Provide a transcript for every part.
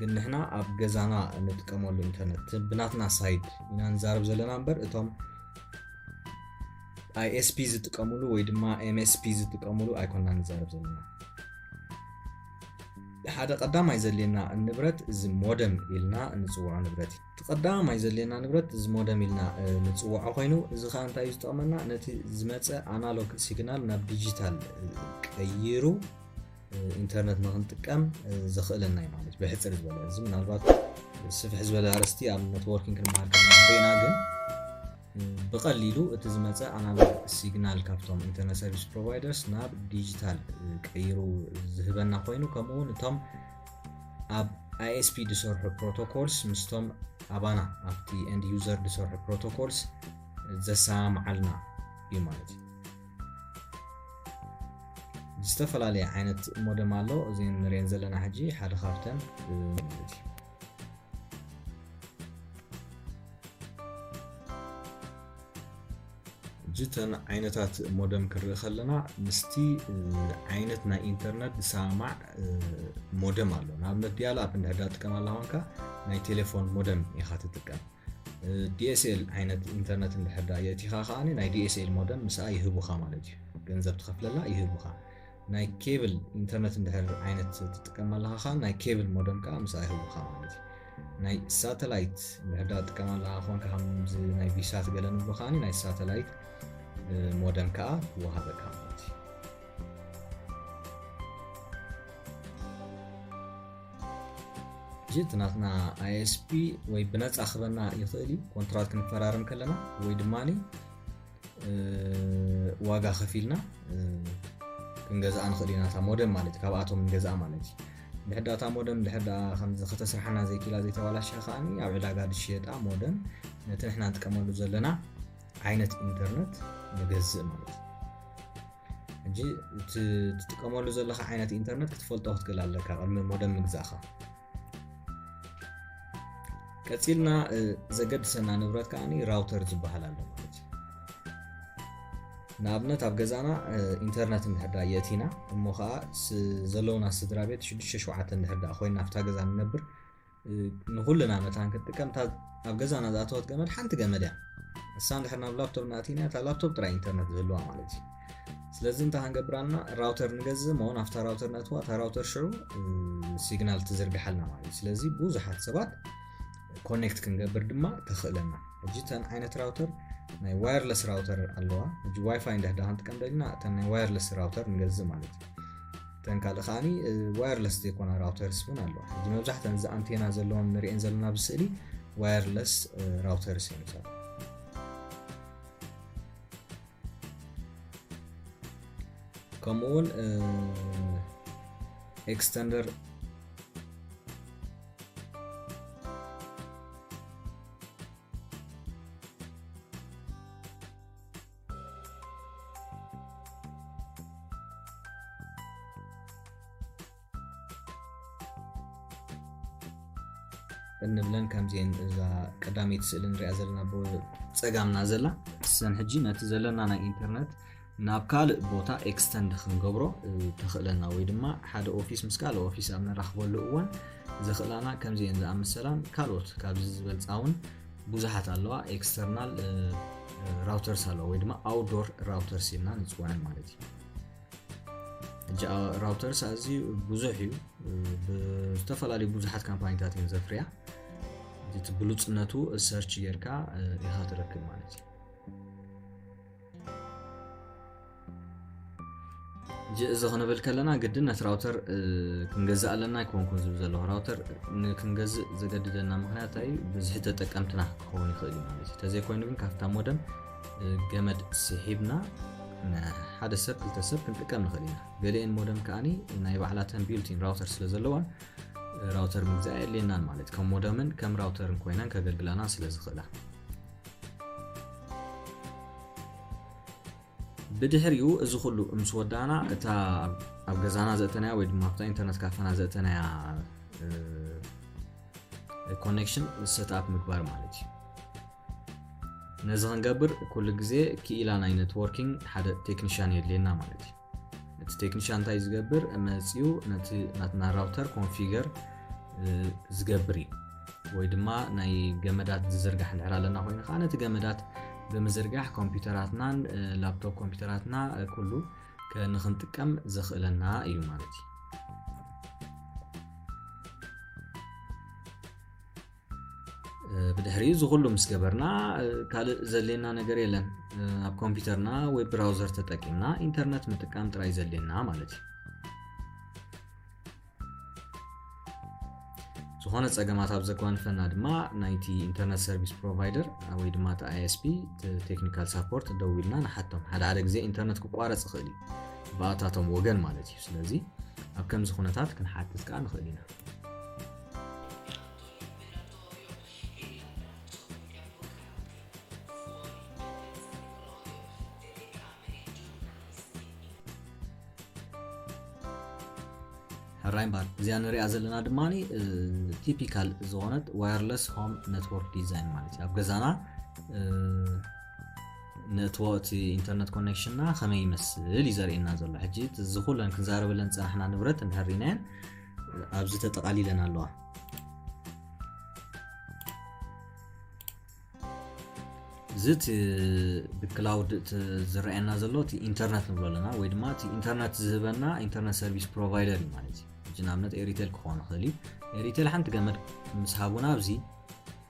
ግን ንሕና ኣብ ገዛና እንጥቀመሉ ኢንተርነት ብናትና ሳይድ ኢና ንዛረብ ዘለና እምበር እቶም ኣይኤስፒ ዝጥቀምሉ ወይ ድማ ኤምኤስፒ ዝጥቀምሉ ኣይኮና ንዛረብ ዘለና ሓደ ቀዳማይ ዘድልየና ንብረት እዚ ሞደም ኢልና ንፅውዖ ንብረት እዩ እቲ ቀዳማይ ዘድልየና ንብረት እዚ ሞደም ኢልና ንፅውዖ ኮይኑ እዚ ከዓ እንታይ እዩ ዝጠቕመና ነቲ ዝመፀ ኣናሎግ ሲግናል ናብ ዲጂታል ቀይሩ ኢንተርነት ንክንጥቀም ዘኽእለና እዩ ማለት ብሕፅር ዝበለ እዚ ምናልባት ስፍሕ ዝበለ ኣርስቲ ኣብ ኔትዎርኪንግ ክንመሃር ከና ግን ብቐሊሉ እቲ ዝመፀ ኣናሎግ ሲግናል ካብቶም ኢንተርነት ሰርቪስ ፕሮቫይደርስ ናብ ዲጂታል ቀይሩ ዝህበና ኮይኑ ከምኡ እውን እቶም ኣብ ኣይኤስፒ ዝሰርሑ ፕሮቶኮልስ ምስቶም ኣባና ኣብቲ ኤንድ ዩዘር ዝሰርሑ ፕሮቶኮልስ ዘሰማምዓልና እዩ ማለት እዩ ዝተፈላለየ ዓይነት ሞደም ኣሎ እዚ ንሪኤን ዘለና ሕጂ ሓደ ካብተን ጅተን ዓይነታት ሞደም ክንርኢ ከለና ምስቲ ዓይነት ናይ ኢንተርነት ዝሰማማዕ ሞደም ኣሎ ንኣብነት ዲያል ኣፕ እንድሕዳ ጥቀም ኣላ ኮንካ ናይ ቴሌፎን ሞደም ኢኻ ትጥቀም DSL ዓይነት ኢንተርነት እንድሕር ድኣ የእቲኻ ከኣ ናይ DSL ሞደም ምስኣ ይህቡኻ ማለት እዩ ገንዘብ ትኸፍለላ ይህቡኻ ናይ ኬብል ኢንተርነት እንድሕር ዓይነት ትጥቀም ኣለኻ ከኣ ናይ ኬብል ሞደም ከዓ ምስኣ ይህቡኻ ማለት እዩ ናይ ሳተላይት እንድሕር ድኣ ትጥቀም ኣለኻ ኮንካ ከምዚ ናይ ቪሳት ገለ ንብሎ ከኣ ናይ ሳተላይት ሞደም ከዓ ይወሃበካ ማለት እዩ ሕጂ እቲ ናትና ኣይኤስፒ ወይ ብነፃ ክበና ይኽእል እዩ ኮንትራት ክንፈራርም ከለና ወይ ድማ ዋጋ ከፊልና ክንገዝኣ ንኽእል ኢና እታ ሞደም ማለት ካብኣቶም ንገዝኣ ማለት እዩ ድሕዳ እታ ሞደም ድሕዳ ከምዚ ከተስርሓና ዘይክላ ዘይተባላሸ ከዓ ኣብ ዕዳጋ ዝሽየጣ ሞደም ነቲ ንሕና ንጥቀመሉ ዘለና ዓይነት ኢንተርነት ንገዝእ ማለት እዩ ሕጂ እቲ ትጥቀመሉ ዘለካ ዓይነት ኢንተርነት ክትፈልጦ ክትክእል ኣለካ ቅድሚ ሞደም ምግዛእካ ቀፂልና ዘገድሰና ንብረት ከዓ ራውተር ዝበሃል ኣሎ ማለት እዩ ንኣብነት ኣብ ገዛና ኢንተርነት እንድሕዳ የእቲና እሞ ከዓ ዘለውና ስድራ ቤት 67 እንድሕዳ ኮይና ኣብታ ገዛ ንነብር ንኹልና መታን ክትጥቀም እታ ኣብ ገዛና ዝኣተወት ገመድ ሓንቲ ገመድ እያ ንሳ እንድሕር ናብ ላፕቶፕ ንኣቲና እታ ላፕቶፕ ጥራይ ኢንተርነት ዝህልዋ ማለት እዩ ስለዚ እንታይ ክንገብር ኣለና ራውተር ንገዝእ እሞ ናብታ ራውተር ነእትዋ እታ ራውተር ሽዑ ሲግናል ትዝርግሓልና ማለት እዩ ስለዚ ብዙሓት ሰባት ኮኔክት ክንገብር ድማ ተኽእለና ሕጂ እተን ዓይነት ራውተር ናይ ዋየርለስ ራውተር ኣለዋ ሕጂ ዋይፋይ እንዳህዳ ክንጥቀም ደልና እተን ናይ ዋየርለስ ራውተር ንገዝእ ማለት እዩ እተን ካልእ ከዓኒ ዋየርለስ ዘይኮና ራውተርስ እውን ኣለዋ ሕጂ መብዛሕተን እዚ ኣንቴና ዘለዎን ንሪኤን ዘለና ብስእሊ ዋየርለስ ራውተርስ እዮም ይሰራ ከምኡ እውን ኤክስተንደር እንብለን ከምዚን እዛ ቀዳመይቲ ስእሊ ንሪኣ ዘለና ብፀጋምና ዘላ ሰን ሕጂ ነቲ ዘለና ናይ ኢንተርነት ናብ ካልእ ቦታ ኤክስተንድ ክንገብሮ ተኽእለና ወይ ድማ ሓደ ኦፊስ ምስ ካልእ ኦፊስ ኣብ ንራኽበሉ እዋን ዘኽእላና ከምዚን ዝኣመሰላን ካልኦት ካብዚ ዝበልፃውን ብዙሓት ኣለዋ ኤክስተርናል ራውተርስ ኣለዋ ወይ ድማ ኣውዶር ራውተርስ ኢልና ንፅውዐን ማለት እዩ ራውተርስ ኣዝዩ ብዙሕ እዩ ዝተፈላለዩ ብዙሓት ካምፓኒታት እየን ዘፍርያ እቲ ብሉፅነቱ ሰርች ጌርካ ኢኻ ትረክብ ማለት እዩ እዚ ክንብል ከለና ግድን ነቲ ራውተር ክንገዝእ ኣለና ኣይኮንኩን ዝብል ዘለኹ ራውተር ንክንገዝእ ዘገድደና ምክንያት እዩ ብዝሒ ተጠቀምትና ክኸውን ይኽእል እዩ ማለት እዩ ተዘይኮይኑ ግን ካብታ ሞደም ገመድ ስሒብና ሓደ ሰብ ክልተ ሰብ ክንጥቀም ንኽእል ኢና ገሊአን ሞደም ከዓኒ ናይ ባዕላተን ቢልቲን ራውተር ስለ ዘለዋን ራውተር ምግዛእ የድልየናን ማለት ከም ሞደምን ከም ራውተርን ኮይነን ከገልግላና ስለ ዝኽእላ ብድሕሪኡ እዚ ኩሉ ምስ ወዳእና እታ ኣብ ገዛና ዘእተናያ ወይ ድማ ኣብታ ኢንተርነት ካፈና ዘእተናያ ኮኔክሽን ሰትኣፕ ምግባር ማለት እዩ ነዚ ክንገብር ኩሉ ግዜ ክኢላ ናይ ኔትዎርኪንግ ሓደ ቴክኒሽያን የድልየና ማለት እዩ እቲ ቴክኒሻን እንታይ ዝገብር መፅኡ ነቲ ናትና ራውተር ኮንፊገር ዝገብር እዩ ወይ ድማ ናይ ገመዳት ዝዝርጋሕ ንድሕር ኣለና ኮይኑ ከዓ ነቲ ገመዳት ብምዝርጋሕ ኮምፒውተራትናን ላፕቶፕ ኮምፒውተራትና ኩሉ ንክንጥቀም ዘኽእለና እዩ ማለት እዩ ብድሕሪ እዚ ኩሉ ምስ ገበርና ካልእ ዘድልየና ነገር የለን ኣብ ኮምፒውተርና ወይ ብራውዘር ተጠቂምና ኢንተርነት ምጥቃም ጥራይ ዘድልየና ማለት እዩ ዝኾነ ፀገማት ኣብ ዘጓንፈና ድማ ናይቲ ኢንተርነት ሰርቪስ ፕሮቫይደር ወይ ድማ እቲ ኣይስፒ ቴክኒካል ሳፖርት ደው ኢልና ንሓቶም ሓደ ሓደ ግዜ ኢንተርነት ክቋረፅ ይኽእል እዩ ብኣታቶም ወገን ማለት እዩ ስለዚ ኣብ ከምዚ ኩነታት ክንሓትት ከዓ ንኽእል ኢና ሕራይ እምበኣር እዚኣ ንሪኣ ዘለና ድማ ቲፒካል ዝኾነት ዋየርለስ ሆም ነትወርክ ዲዛይን ማለት እዩ ኣብ ገዛና ነትወቲ ኢንተርነት ኮኔክሽንና ከመይ ይመስል እዩ ዘርእየና ዘሎ ሕጂ እዚ ኩለን ክንዛረበለን ፀናሕና ንብረት እንድሕር ኢናየን ኣብዚ ተጠቓሊለን ኣለዋ እዚ እቲ ብክላውድ ዝረኣየና ዘሎ እቲ ኢንተርነት ንብሎ ኣለና ወይ ድማ እቲ ኢንተርነት ዝህበና ኢንተርነት ሰርቪስ ፕሮቫይደር እዩ ማለት እዩ ንኣብነት ኤሪቴል ክኾን ይኽእል እዩ ኤሪቴል ሓንቲ ገመድ ምስ ሃቡና ኣብዚ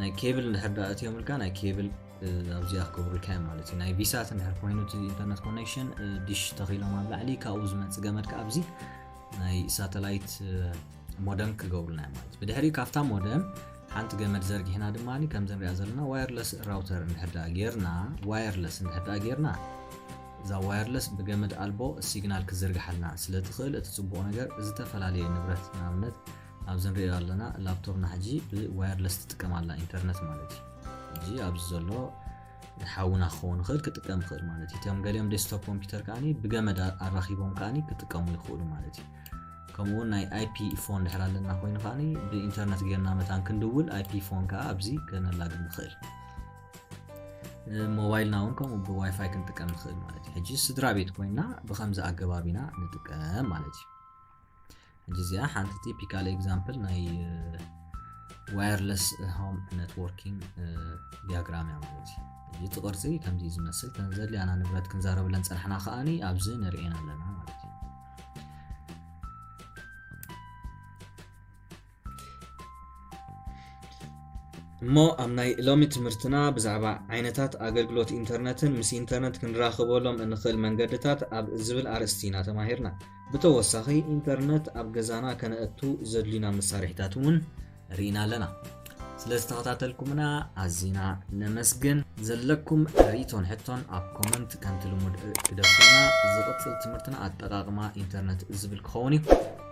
ናይ ኬብል እንድሕር ዳ እትዮምልካ ናይ ኬብል ኣብዚኣ ክገብሩልካ እዮም ማለት እዩ ናይ ቪሳት እንድሕር ኮይኑ እቲ ኢንተርነት ኮኔክሽን ዲሽ ተኺሎም ኣብ ላዕሊ ካብኡ ዝመፅ ገመድ ከዓ ኣብዚ ናይ ሳተላይት ሞደም ክገብሩልና እዮም ማለት ብድሕሪ ካብታ ሞደም ሓንቲ ገመድ ዘርጊሕና ድማ ከምዚ ንሪኣ ዘለና ዋየርለስ ራውተር እንድሕር ዳ ጌርና ዋየርለስ እንድሕር ዳ ጌርና እዛ ዋየርለስ ብገመድ ኣልቦ ሲግናል ክዝርግሓልና ስለ ትኽእል እቲ ፅቡቕ ነገር ዝተፈላለየ ንብረት ንኣብነት ኣብዚ ንሪኦ ዘለና ላፕቶፕና ሕጂ ብዋየርለስ ትጥቀም ኣላ ኢንተርነት ማለት እዩ ሕጂ ኣብዚ ዘሎ ሓውና ክኸውን ይኽእል ክጥቀም ይኽእል ማለት እዩ እቶም ገሊኦም ዴስክቶፕ ኮምፒውተር ከዓኒ ብገመድ ኣራኺቦም ከዓኒ ክጥቀሙ ይኽእሉ ማለት እዩ ከምኡውን ናይ ኣይፒ ፎን ድሕር ኣለና ኮይኑ ከዓኒ ብኢንተርነት ጌርና መታን ክንድውል ኣይፒ ፎን ከዓ ኣብዚ ከነላግ ንኽእል ሞባይልና እውን ከምኡ ብዋይፋይ ክንጥቀም ንኽእል ማለት እዩ ሕጂ ስድራ ቤት ኮይና ብከምዚ ኣገባቢና ንጥቀም ማለት እዩ እዚ እዚኣ ሓንቲ ቲፒካል ኤግዛምፕል ናይ ዋየርለስ ሆም ኔትዎርኪንግ ዲያግራም እያ ማለት እዩ እቲ ቅርፂ ከምዚ ዝመስል ተን ዘድልያና ንብረት ክንዛረብለን ፀናሕና ከዓኒ ኣብዚ ንርእየን ኣለና ማለት እዩ እሞ ኣብ ናይ ሎሚ ትምህርትና ብዛዕባ ዓይነታት ኣገልግሎት ኢንተርነትን ምስ ኢንተርነት ክንራኽበሎም እንኽእል መንገድታት ኣብ ዝብል ኣርእስቲ ኢና ተማሂርና ብተወሳኺ ኢንተርነት ኣብ ገዛና ከነእቱ ዘድልዩና መሳርሒታት እውን ርኢና ኣለና ስለ ዝተኸታተልኩምና ኣዝና ነመስግን ዘለኩም ርእቶን ሕቶን ኣብ ኮመንት ከምቲ ልሙድ ክደፍና ዝቕፅል ትምህርትና ኣጠቃቕማ ኢንተርነት ዝብል ክኸውን እዩ